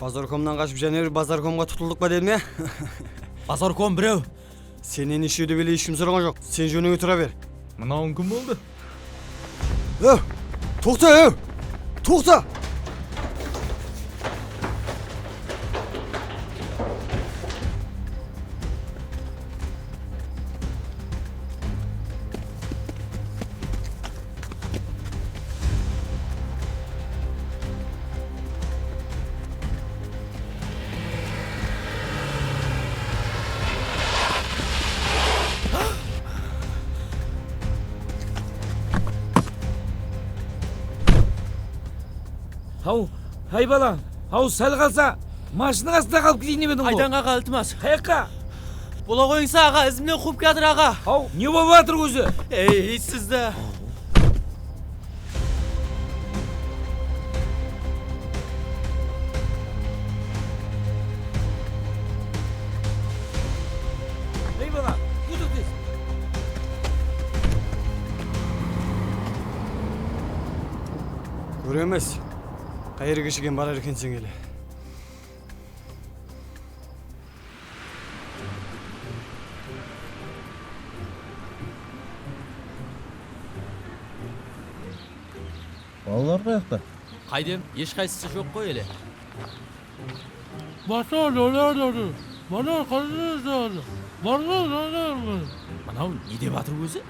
Bazarkomnan qashıp jáne bir Bazarkomǵa tutıldık pa deme. Bazarkom birew. Sennen eshiu dep ele eshkim soraǵan joq. Sen jónińe tura ber. Mınauıń kim boldı? Ew! Toqta ew! Toqta! Haw, háy balam, haw sál qalsa mashinniń astında qalıp kiyinip ediń ǵoy. Aydańǵaǵa iltimas. Qayaqqa? Bola qoyıńsa aǵa izimnen quwıp kiyatır aǵa. Haw ne bolıp atır ózi. Ey sizdi. Ey bala kúdikpes. Kóremiz qayerge shekem barar ekenseń ele. Balalar qayaqta? Qayden? Eshqaysısı joq qoy ele. Basqa joylarda atır. Manaw qáne eshite atır. Barǵan jayda eshitpeysiń. Mınaw ne dep atır ózi?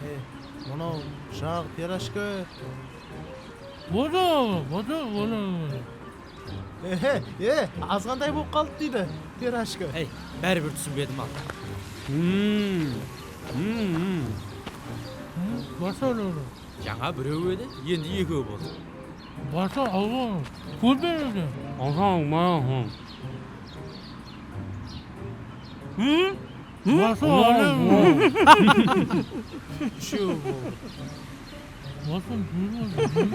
He, mınaw jaǵ pirojka. Bosaq aǵa, bosaq bosaq. Ehe, e, azǵantay bolıp qaldı deydi, Perashka. Ey, bári bir túsinbedim-aw. Basa ne ol? Jańa birew edi, endi ekew boldı. Basa alǵa ol, kórmey edi. Basa alǵa ol. Basa alǵa ol. Úshew boldı. Bolsın gúl bolsın.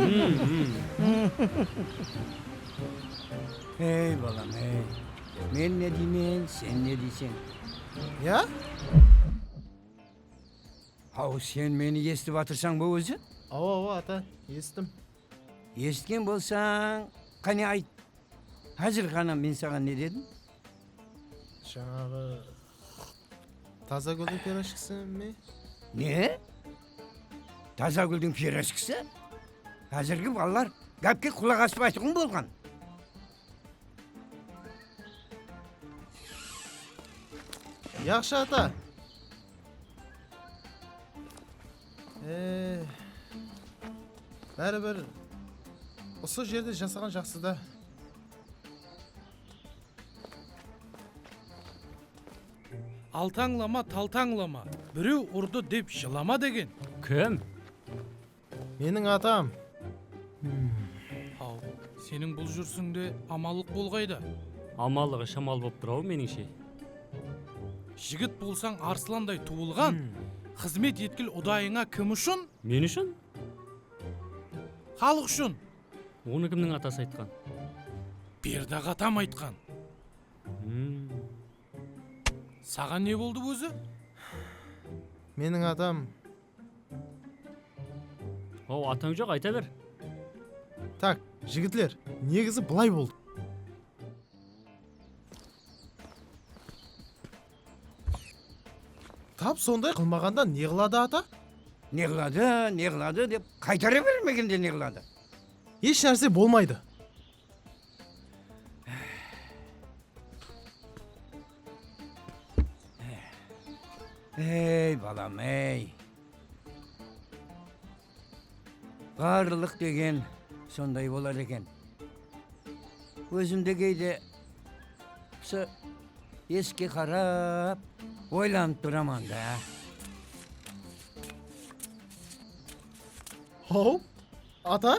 Ey balam ey men ne deymen sen ne deyseń ya? Haw sen meni esitip atırsań ba ózi? Awa awa ata esittim. Esitken bolsań qáne ayt házir ǵana men saǵan ne dedim? Jańaǵı Taza gúldiń pirojkisi me? Ne? Taza gúldiń pirojkisi? Házirgi balalar gápke qulaq aspaytuǵın bolǵan. Yaqshı ata. Ee, bári bir usı jerde jasaǵan jaqsı da. Altańlama, taltańlama, birew urdı dep jılama degen. Kim? Meniń atam. Haw, seniń bul júrisińde amallıq bol qayda? Amallıǵı shamal bolıp tur-aw, menińshe. Jigit bolsań arslanday tuwılǵan, xızmet etkil udayıńa kim ushın? Men ushın? Xalıq ushın! Onı kimniń atası aytqan? Berdi aǵa atam aytqan. H'mm. Saǵan ne boldı ózi? Meniń atam. Hau, atań joq, ayta ber. Tak, jigitler, negizi bılay boldı. Tap sonday qılmaǵanda ne qıladı ata? Ne qıladı, ne qıladı dep qaytara bermegende ne qıladı? Esh nárse bolmaydı. Ey, balam, ey! Ǵarrılıq degen sonday bolar eken. Ózim de geyde usı esikge qarap oylanıp turaman da. Haw, ata!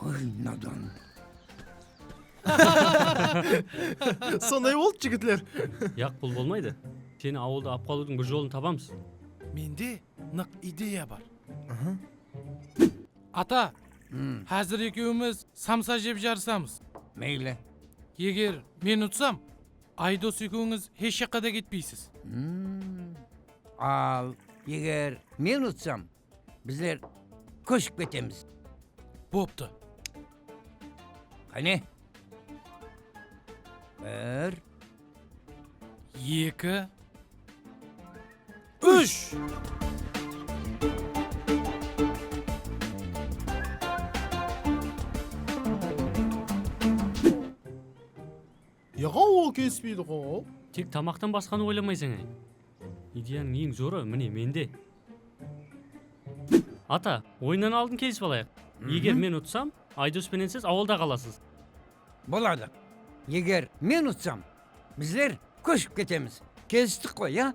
Ay nadan. Sonday boldı jigitler. Yaq bul bolmaydı. Seni awılda alıp qalıwdıń bir jolın tabamız. Mende nıq ideya bar. Ata, házir ekewimiz samsa jep jarısamız. Meyli. Eger men utsam, Aydos ekewińiz hesh jaqqa da ketpeysiz. Al, eger men utsam, Bizler kóship ketemiz. Boptı. Qáne. Bir. Eki. Úsh. Yaqaw ol kelispeydi ǵow. Tek tamaqtan basqanı oylamaysań áy. Ideyanıń eń zorı mine mende. Ata, oyınnan aldın kelisip alayıq. Eger men utsam, Aydos penen siz awılda qalasız. Boladı. Eger men utsam, bizler kóship ketemiz. Kelistik ǵoy, a?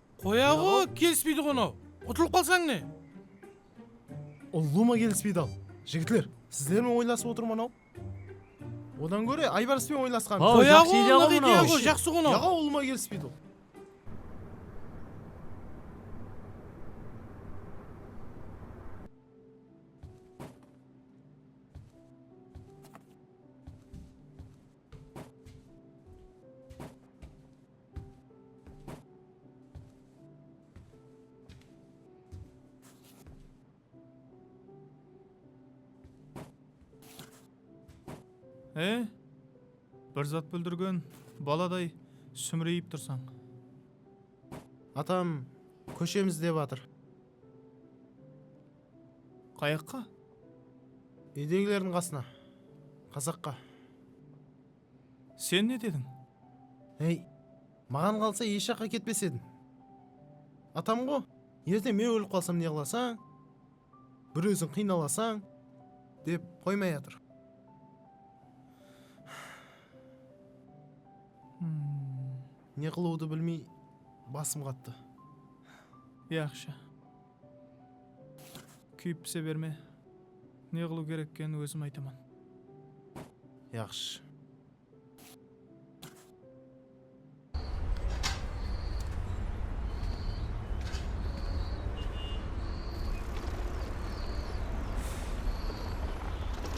Qoyaǵo kelispeydiǵo-nau, utılıp qalsań ne? Ulluma kelispeydi-au. Jigitler, sizlermen oylasıp otırman-au. Odan góre Aybarıspem oylasqan. Hau, jaqsı ideya-ǵo mınau. Qoyaǵo, ideya-ǵo, jaqsı-ǵo-nau. Yaǵo ulıma kelispeydi-au. E, bir zat búldirgen baladay súmreyip tursań. Atam kóshemiz dep atır. Qayaqqa? Úydegilerdiń qasına. Qazaqqa. Sen ne dediń? Hey, maǵan qalsa esh jaqqa ketpes edim. Atamǵo, erte men ólip qalsam ne qılasań, bir óziń qıynalasań, dep qoymay atır. Ne qılıwdı bilmey basım qattı. Yaqshı. Kúyip pise berme. Ne qılıw kerek eken ózim aytaman. Yaqshı.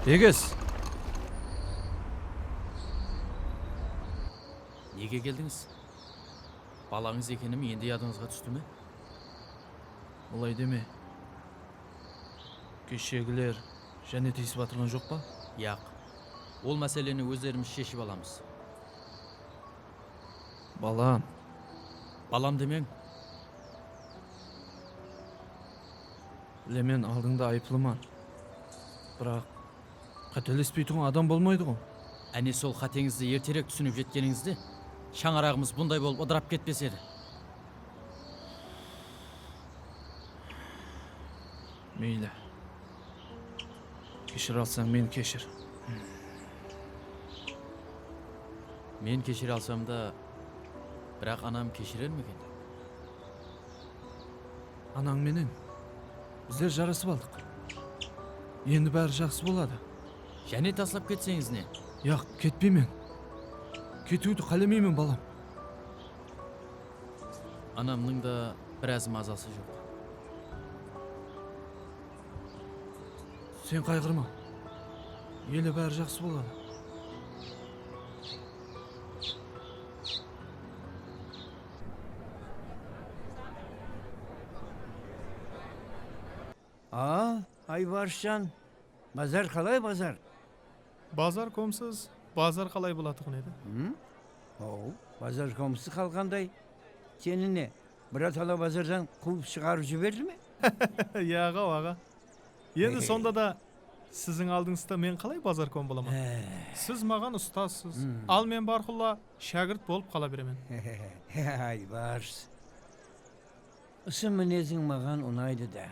Egiz! Nege keldińiz? Balańız ekenim endi yadıńızǵa tústi me? Olay deme. Keshegiler jáne tiyisip atırǵan joq pa? Yaq. Ol máseleni ózlerimiz sheship alamız. Balam. Balam demeń. Bilemen, aldıńda ayıplıman. Biraq, Qátelespeytuǵın adam bolmaydıǵo. Áne sol qáteńizdi erterek túsinip jetkenińizde shańaraǵımız bunday bolıp ıdırap ketpes edi. Meyli. Keshire alsań meni keshir. Men keshire alsamda, biraq anam keshirer meken? Anań menen bizler jarasıp aldıq. Endi bári jaqsı boladı. Jáne taslap ketseńiz ne? Jaq, ketpeymen. Ketiwdi qálemeymen, balam. Anamnıń da biraz mazası joq. Sen qayǵırma. Ele bári jaqsı boladı. Aa, Aybarısjan, bazar qalay, bazar? Bazar komsız, bazar qalay bolatuǵın edi? Hım, haw, bazar komsız qalǵanday. Seni ne, biratala bazardan quwıp shıǵarıp jiberdi me? Yaǵaw, aǵa. Endi sonda da siziń aldıńızda men qalay bazar kom bolaman? Siz maǵan ustasız, al men barqulla Shágirt bolıp qala beremen. Aybars. Usı mineziń maǵan unaydı dá.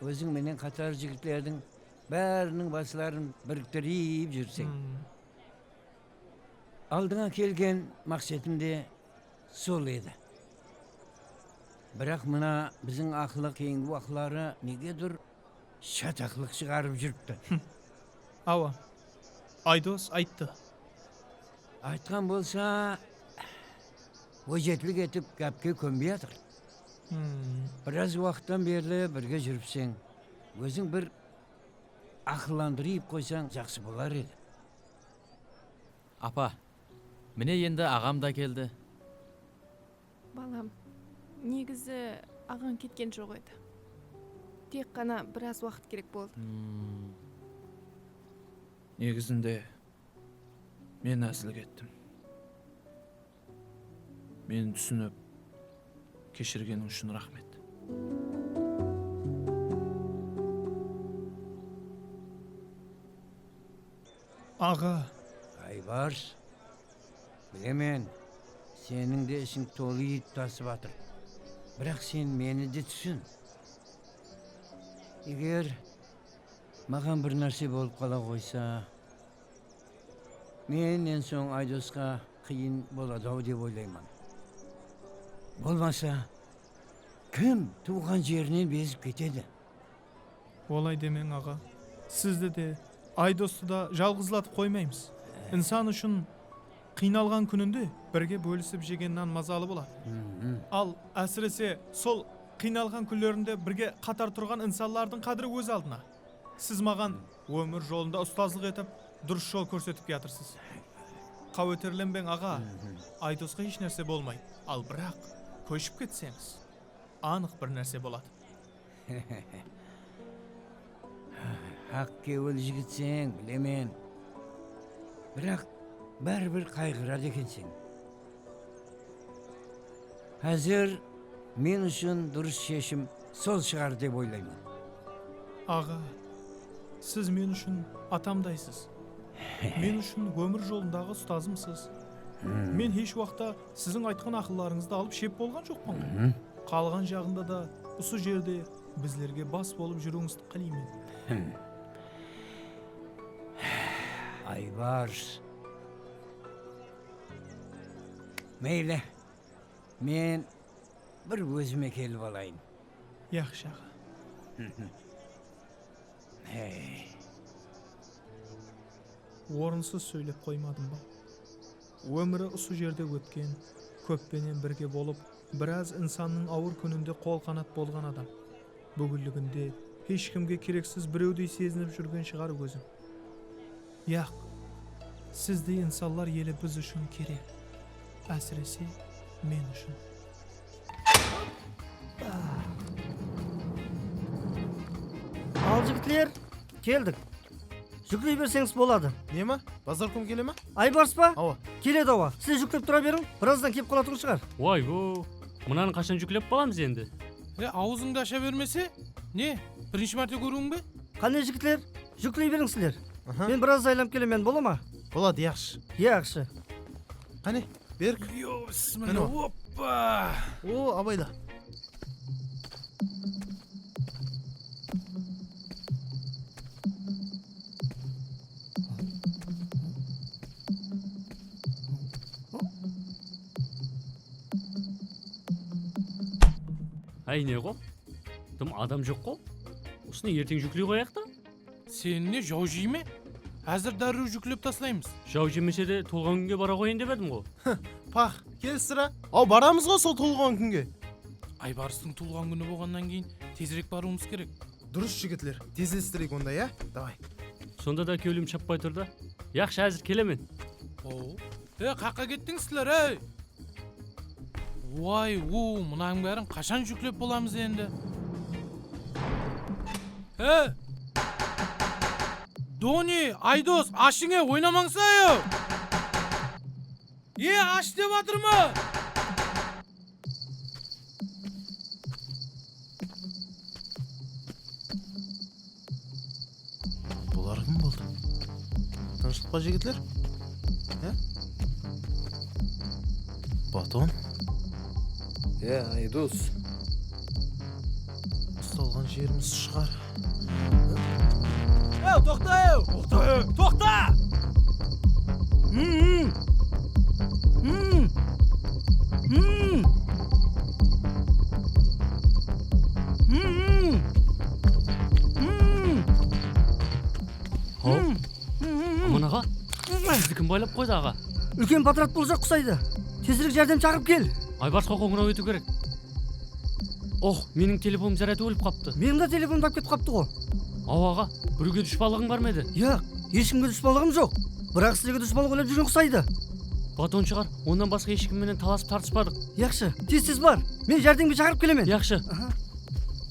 Óziń menen qatar jigitlerdiń báriniń basların biriktirip júrseń. Aldıńa kelgen maqsetim de sol edi. Biraq mına biziń aqlı keyingi waqıtları negedur shataqlıq shıǵarıp júripti. Hım. Awa. Aydos ayttı. Aytqan bolsa, ójetlik etip gápke kónbey atır. Hım. Biraz waqıttan berli birge júripseń, óziń bir aqıllandırıyp qoysań jaqsı bolar edi. Apa, mine endi aǵam da keldi. Balam, negizi aǵań ketken joq edi. Tek ǵana biraz waqıt kerek boldı. Negizinde, men ázilge ettim. Meni túsinip, keshirgeniń ushın raxmet. Aǵa! Jaybars, bilemen, seniń de isiń tolı et tasıp atır. Biraq sen meni de túsin. Eger maǵan bir nárse bolıp qala qoysa, men en soń Aydosqa qıyın boladı-aw dep oylayman. Bolmasa, kim tuwǵan jerinen bezip ketedi? Olay demeń aǵa, sizdi de, Aydostı da jalǵızlatıp qoymaymız. Insan ushın qıynalǵan kúninde birge bólisip jegen nan mazalı boladı. Al, ásirese, sol qıynalǵan kúnlerinde birge qatar turǵan insanlardıń qádiri óz aldına. Siz maǵan ómir jolında ustazlıq etip, durıs jol kórsetip kiyatırsiz. Qáweterlenbeń aǵa, Aydosqa hesh nárse bolmaydı. Al, biraq, kóship ketseńiz, anıq bir nárse boladı. Hehehe. Haq kewil jigitseń, bilemen. Biraq, báribir qayǵıradı ekenseń. Házir men ushın durıs sheshim sol shıǵar dep oylayman. Aǵa, siz men ushın atamdaysız. Men ushın ómir jolındaǵı ustazımsız. Men hesh waqta Siziń aytqan aqıllarıńızdı alıp shep bolǵan joqpan ǵoy. Qalǵan jaǵında da usı jerde bizlerge bas bolıp júriwińizdi qáleymen. Aybars. Meyli, men bir ózime kelip alayın. Yaqshı aǵa. Orınsız sóylep qoymadım ba? Ómiri usı jerde ótken, kóp penen birge bolıp, biraz insannıń awır kúninde qol-qanat bolǵan adam. Búginliginde hesh kimge kereksiz birewdey sezinip júrgen shıǵar ózin. Yaq, sizdey insanlar eli biz ushın kerek. Ásirese, men ushın. Al, jigitler, keldik. Júkley berseńiz boladı. Neme? Bazarkom kele ma? Aybarıs pa? Awa. Keledi awa. Sizler júklep tura beriń, birazdan kelip qalatuǵın shıǵar. Woy-wo! Mınanı qashan júklep bolamız endi? He, awızıńdı asha bermese, ne, birinshi márte kóriwiń be? Qáne, jigitler, júkley beriń sizler. Men birazda aylanıp kelemen, bola ma? Boladı, yaqshı. Yaqshı. Qáne, Berk. Mine ol. Oppa! O, abayla. Áy, ne ǵo? Dım adam joq-ǵo? Usını erteń júkley qoyayıq ta? Seni ne jaw jey me? Házir dárriw júklep taslaymız. Jaw jemese de tolǵan kúnge bara qoyayın dep edim-ǵo. Hıh, pax, kel sirá. Aw, baramız-ǵo sol tolǵan kúnge. Aybarıstıń tuwılǵan kúni bolǵannan keyin tezirek barıwımız kerek. Durıs jigitler, tezlestireyik onda ya, davay. Sonda da kewlim shappay tur da. Yaqshı, házir kelemen. Aw. Ey, qaqqa kettińiz sizler, ey! Uay u mınań bárin qashan juklep bolamız endi e Doni Aydos ashıń e oynamańsa e e ash dep atırman. Bular kim boldı? Tınıshlıq pa jigitler? Há? Baton? Yá, Aydós. Ustalǵan jerimiz shıǵar. Ew, toqta ew! Toqta ew! Toqta! Hım-hım! Hım! Hım! Hım-hım! Aman aǵa, sizdi kim baylap qoydı aǵa? Úlken potrat bolsa qusaydı. Tezirek járdem shaqırıp kel. Aybarsqa qońıraw etiw kerek. Ox, meniń telefonım záryadı ólip qaptı. Meniń de telefonım dawıp ketip qaptı ǵo. Aw aǵa, biruge dushpanlıǵıń bar ma edi? Yoq, eshkimge dushpanlıǵım joq. Biraq sizlerge dushpanlıq oylap júrgen qusaydı. Baton shıǵar, onnan basqa eshkim menen talasıp tartıspadıq. Yaqshı, tez-tez bar. Men járdemge shaqırıp kelemen. Yaqshı.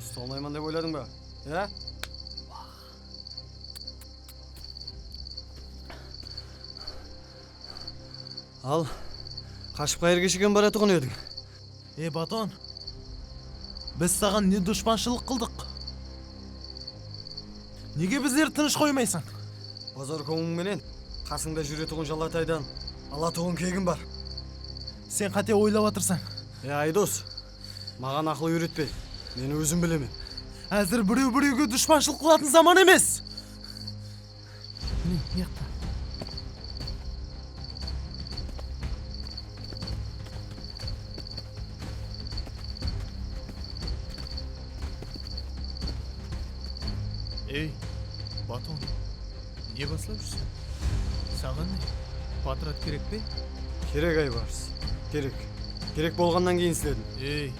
Usta almayman dep oyladıń ba? Há? Al, qashıp qayerge shekem baratuǵın ediń? Ey, Baton, biz saǵan ne dushpanshılıq qıldıq? Nege bizlerdi tınısh qoymaysań? Bozorkovuń menen qasıńda júretuǵın jalataydan alatuǵın kegim bar. Sen qáte oylap atırsań. Ey Aydos, maǵan aqıl úyretpe, men ózim bilemen. Házir birew birewge dushpanshılıq qılatın zaman emes! Mine, buyaqta. Ey, Baton, ne baslap júrseń? Saǵan ne, potrat kerek pe? Kerek, Aybars, kerek. Kerek bolǵannan keyin isledim. Ey,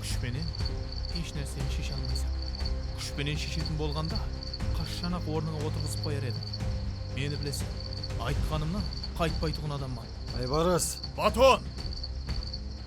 kúsh penen hesh nárseni sheshe almaysań. Kúsh penen sheshetin bolǵanda, qashshan-aq ornıńa otırǵızıp qoyar edim. Meni bileseń, aytqanımnan qaytpaytuǵın adamman. Aybaras! Baton!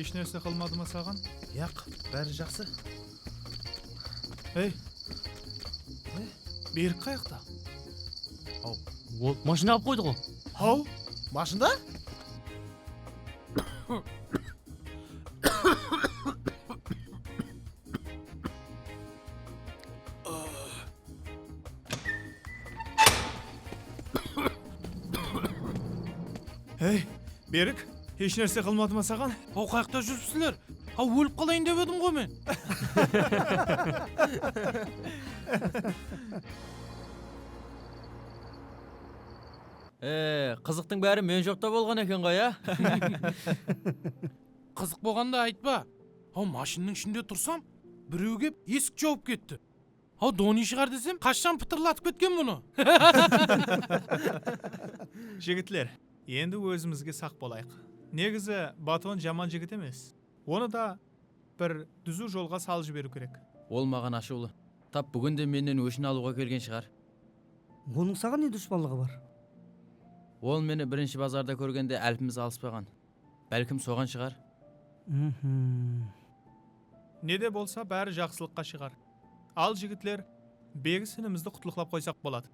Esh nárse qılmadı ma saǵan? Yaq, bári jaqsı. Ey! Berik qayaqta? Haw, ol mashinda alıp qoydı-ǵo. Haw, mashinda? Ey, Berik, hesh nárse qılmadı ma saǵan? Hau qayaqta júripsiler? Hau ólip qalayın dep edim ǵoy men. Ee, qızıqtıń bári men joqta bolǵan eken ǵoy, á? Qızıq bolǵanda aytpa. Hau mashinniń ishinde tursam, bireu kep esik jauıp ketti. Hau doni shıǵar desem qashshan pıtırlatıp ketken bunı. Jigitler endi ózimizge saq bolayıq. Negizi Baton jaman jigit emes. Onı da bir dúziw jolǵa salıp jiberiw kerek. Ol maǵan ashıwlı. Tap búgin de mennen óshin alıwǵa kelgen shıǵar. Onıń saǵan ne duspanlıǵı bar? Ol meni birinshi bazarda kórgende álpimiz alıspaǵan. Bálkim soǵan shıǵar. Mhmm. Nede bolsa bári jaqsılıqqa shıǵar. Al jigitler, Begis inimizdi qutlıqlap qoysaq boladı.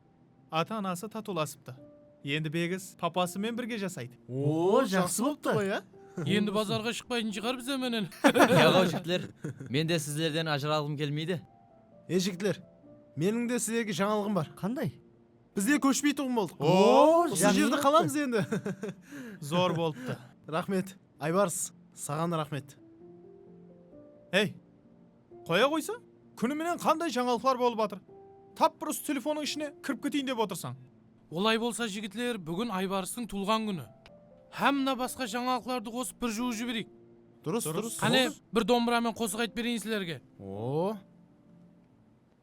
Ata-anası tatulasıptı. Endi Begis papası men birge jasaydı. Oo, jaqsı bolıptı. Qoy a? Endi bazarǵa shıqpaytın shıǵar bize menen. Yaǵaw jigitler, men de sizlerden ajıralǵım kelmeydi. Ey jigitler, meniń de sizlerge jańalıǵım bar. Qanday? Bizde kóshpeytuǵın boldıq. Oo usı jerdi qalamız endi. Zor bolıptı. Raxmet Aybarıs saǵanda raxmet. Ey qoya qoysa kúni menen qanday jańalıqlar bolıp atır tap bir usı telefonıń ishine kirip keteyin dep otırsań. Olay bolsa jigitler búgin Aybarıstıń tuwılǵan kúni. Hám mına basqa jańalıqlardı qosıp bir juwıp jibereyik. Durıs durıs. Qáne bir dombıramen qosıq aytıp bereyın sizlerge. Oo.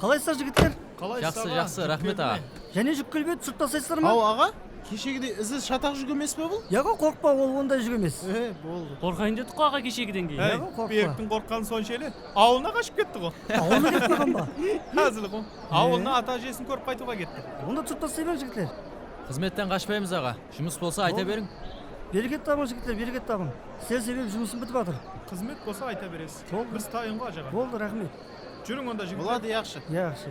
Qalaysızlar jigitler? Qalaysız aǵa? Jaqsı, jaqsı, raxmet aǵa. Jáne júk kelbedi, sırtlasaysızlar ma? Haw aǵa, keshegidey izsiz shataq júk emes pe bul? Yoqo, qorqpa, ol onday júk emes. E, boldı. Qorqayın dedik qo aǵa keshegiden keyin. Yoqo, qorqpa. Beriktiń qorqqanı sonsha ele, awılına qashıp ketti ǵo. Awılına ketip qalǵan ba? Házil ǵo. Awılına ata-ájesin kórip qaytıwǵa ketti. Onda sırtlasayman jigitler. Xızmetten qashpaymız aǵa, jumıs bolsa ayta beriń. Bereket tabıń jigitler bereket tabıń sizler sebebi jumısım bitip atır. Xızmet bolsa ayta beresiz biz tayın ǵo ajaǵa. Boldı raxmet. Júriń onda jigitler. Boladı yaqshı. Yaqshı yaqshı.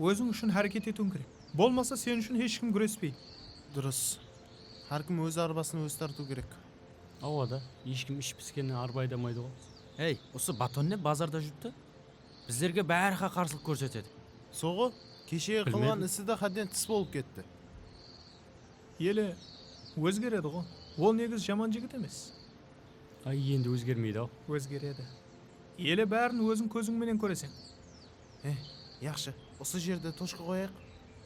Óziń ushın háreket etiwin kerek. Bolmasa sen ushın hesh kim gúrespeydi. Durıs. Hár kim óz arbasın ózi tartıw kerek. Awa da, esh kim ishi piskennen arba aydamaydıǵo. Ey, usı baton ne bazarda júripti? Bizlerge bári-há qarsılıq kórsetedi. Solǵo, keshegi qılǵan isi de xádden tıs bolıp ketti. Ele, ózgerediǵo. Ol negiz jaman jigit emes. Ay, endi ózgermeydi-aw. Ózgeredi. Ele, bárin óziń kóziń menen kóreseń. Eh, yaqshı, usı jerde toshka qoyayıq.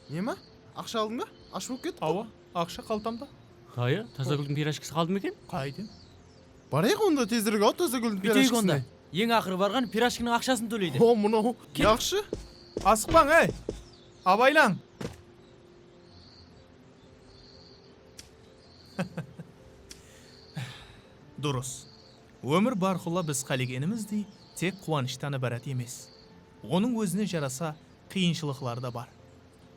Nema? Aqsha aldıń ba? Ash bolıp ketip qalıń? Awa, aqsha qaltamda. Dayı, Tazagúldiń pirajkisi qaldı ma eken? Qaytem. Barayıq onda tezirek-aw Tazagúldiń pirajkisine. Búyteyik onda. Eń aqırı barǵan pirajkiniń aqshasın tóleydi. Ho, mınaw. Yaqshı. Asıqpań, áy! Abaylań! Durıs. Ómir bárqulla biz qálegenimizdey tek quwanıshtan ibarat emes. Onıń ózine jarasa qıyınshılıqları da bar.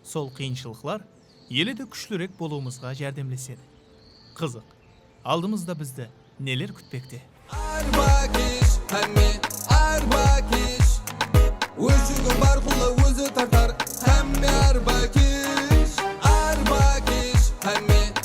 Sol qıyınshılıqlar ele de kúshlirek bolıwımızǵa járdemlesedi. Qızıq, aldımızda bizdi neler kútpekte? Arba kesh, hámme arba kesh, Óz júgin bárqulla ózi tartar, Hámme arba kesh, arba kesh, Hámme.